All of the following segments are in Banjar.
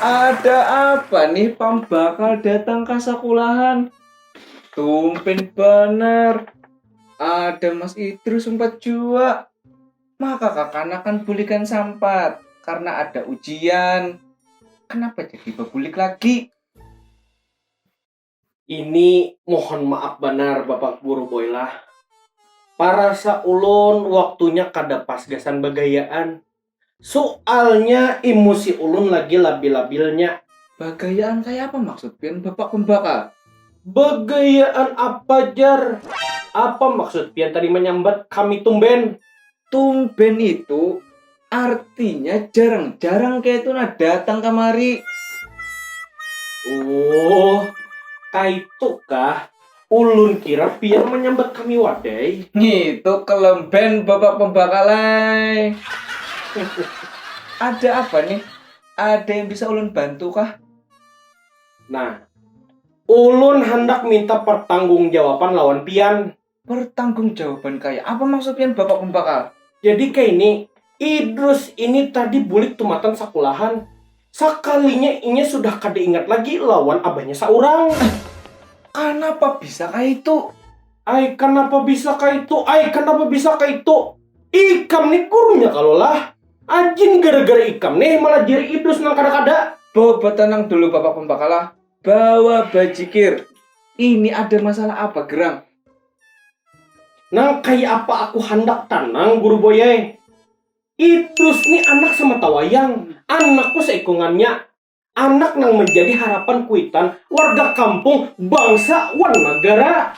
Ada apa nih pambakal datang ke sekolahan? Tumpen banar. Ada Mas Idrus sempat jua. Maka kakanakan bulikan sampat karena ada ujian. Kenapa jadi bebulik lagi? Ini mohon maaf banar bapak guru boy lah. Parasa ulun waktunya kada pas gasan bagayaan. Sualnya imusi ulun lagi labil-labilnya. Bagayaan kayapa maksud pian bapak pembakal? Bagayaan apa jar? Apa maksud pian tadi manyambat kami tumben? Tumben itu artinya jarang-jarang kayak itu nah datang kamari. Oh, kaitu kah? Ulun kira pian menyambat kami wadai. Itu kelemben bapak pembakalai. Ada apa nih? Ada yang bisa ulun bantu kah? Nah, ulun handak minta pertanggungjawaban lawan pian. Pertanggung jawaban kaya apa maksud pian bapak pembakal? Jadi kaini, Idrus ini tadi bulik tumatan sakulahan, sakalinya inya sudah kada ingat lagi lawan abahnya saurang. Ai, kanapa bisa kaitu? Ai, kanapa bisa kaitu? Ai, kanapa bisa kaitu? Ikam nih gurunya kalo lah? Ajin gara-gara ikam nih malajari Idrus nang kada-kada. Bawa batanang dulu bapak pembakal lah, Bawa bajikir. Ini ada masalah apa gerang? Nang kaya apa aku handak tanang Guru Boy ai. Idrus ni anak samata wayang, anakku saikungannya. Anak nang manjadi harapan kuitan warga kampung, bangsa, wan nagara.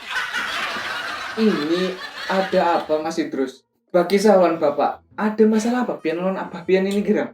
Ini ada apa Mas Idrus? Bakisah wan Bapak. Ada masalah apa pian lawan abah pian ini gerang?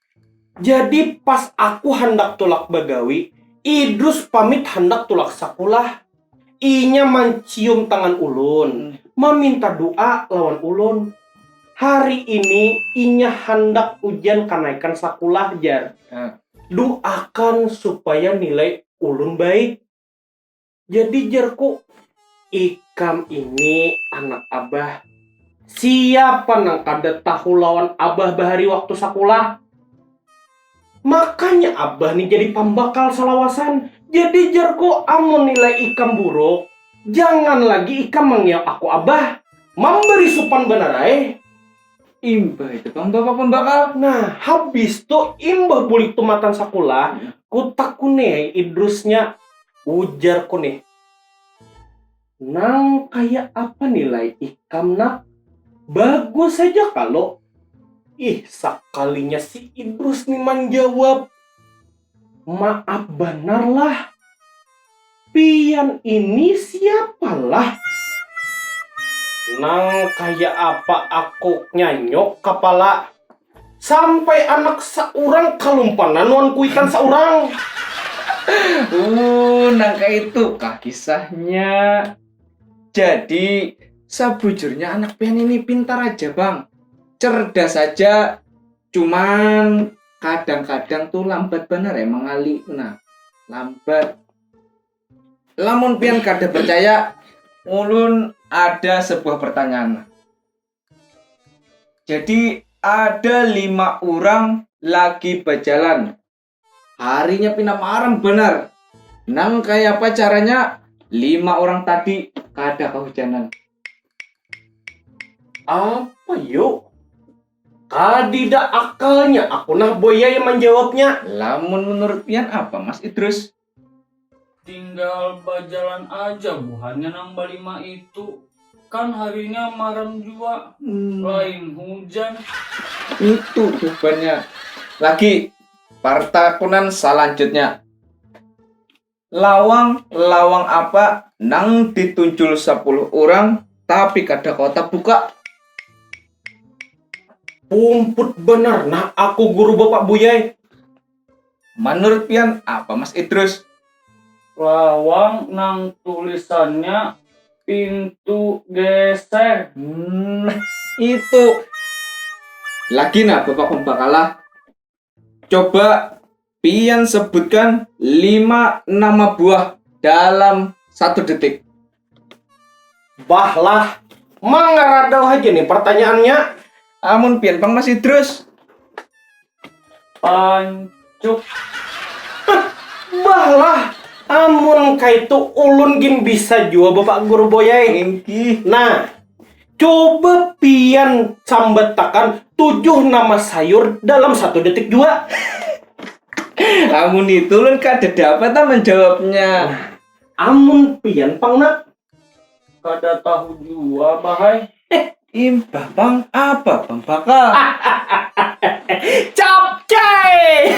Jadi pas aku handak tulak bagawi, Idrus pamit handak tulak sakulah. Inya mancium tangan ulun, maminta du'a lawan ulun. Hari ini inya handak ujian kanaikan sakulah jar. Du'akan supaya nilai ulun baik. Jadi jerku, ikam ini anak abah, siapa nang kada tahu lawan abah bahari waktu sakulah. Makanya abah ni jadi pambakal salawasan. Jadi jerku amun nilai ikam buruk, jangan lagi ikam mangiau aku abah. Mambari supan banar ai. Imbah itu pang bapak pembakal. Nah, habis tu imbah bulik tumatan sakulah, kutakuni ai Idrusnya, ujarku nih. Nang kaya apa nilai ikam nak? Bagus haja kalo? Ih, sakalinya si Idrus nih manjawab. Maap banar lah. Pian ini siapa lah? Nang kaya apa aku nyanyuk kapala. Sampai anak saurang kalumpanan wan kuitan saurang. Uh, nang kaitu kah kisahnya. Jadi, sabujurnya anak pian ini pintar aja bang. Cerdas aja. cuman kadang-kadang tuh lambat bener ya mengali nah lambat lamun pian kada percaya ulun ada sebuah pertanyaan jadi ada lima orang lagi berjalan Harinya pina maram banar. Nang kaya apa caranya lima orang tadi kada kahujanan. Apa yo? Kadida akalnya aku nah boya yang manjawabnya. Lamun menurut pian apa Mas Idrus? Tinggal bajalan aja buhannya nang balima itu. Kan harinya maram jua, hmm. lain hujan. Itu jawabannya. Lagi, partakunan selanjutnya. Lawang, lawang apa nang ditunjul sepuluh orang tapi kada kotak buka? Pumput bener, nah aku guru bapak buyai. Manurut pian apa Mas Idrus? Lawang nang tulisannya pintu geser. Hmm, itu. Lagi nah Bapak Pembakalah. Coba pian sebutkan lima nama buah dalam satu detik. Bah lah, mangaradau haja nih pertanyaannya. Amun pian pang masih terus. Pancuk. bah lah, amun kaitu ulun gin bisa jua bapak guru boyai. Ingkih. Nah, coba pian sambatakan tujuh nama sayur dalam satu detik jua. Amun itu ulun kada dapat ah menjawabnya. Nah. Amun pian pang nak. Kada tahu jua bah ai. Impah pang apa pang baka. Capcay.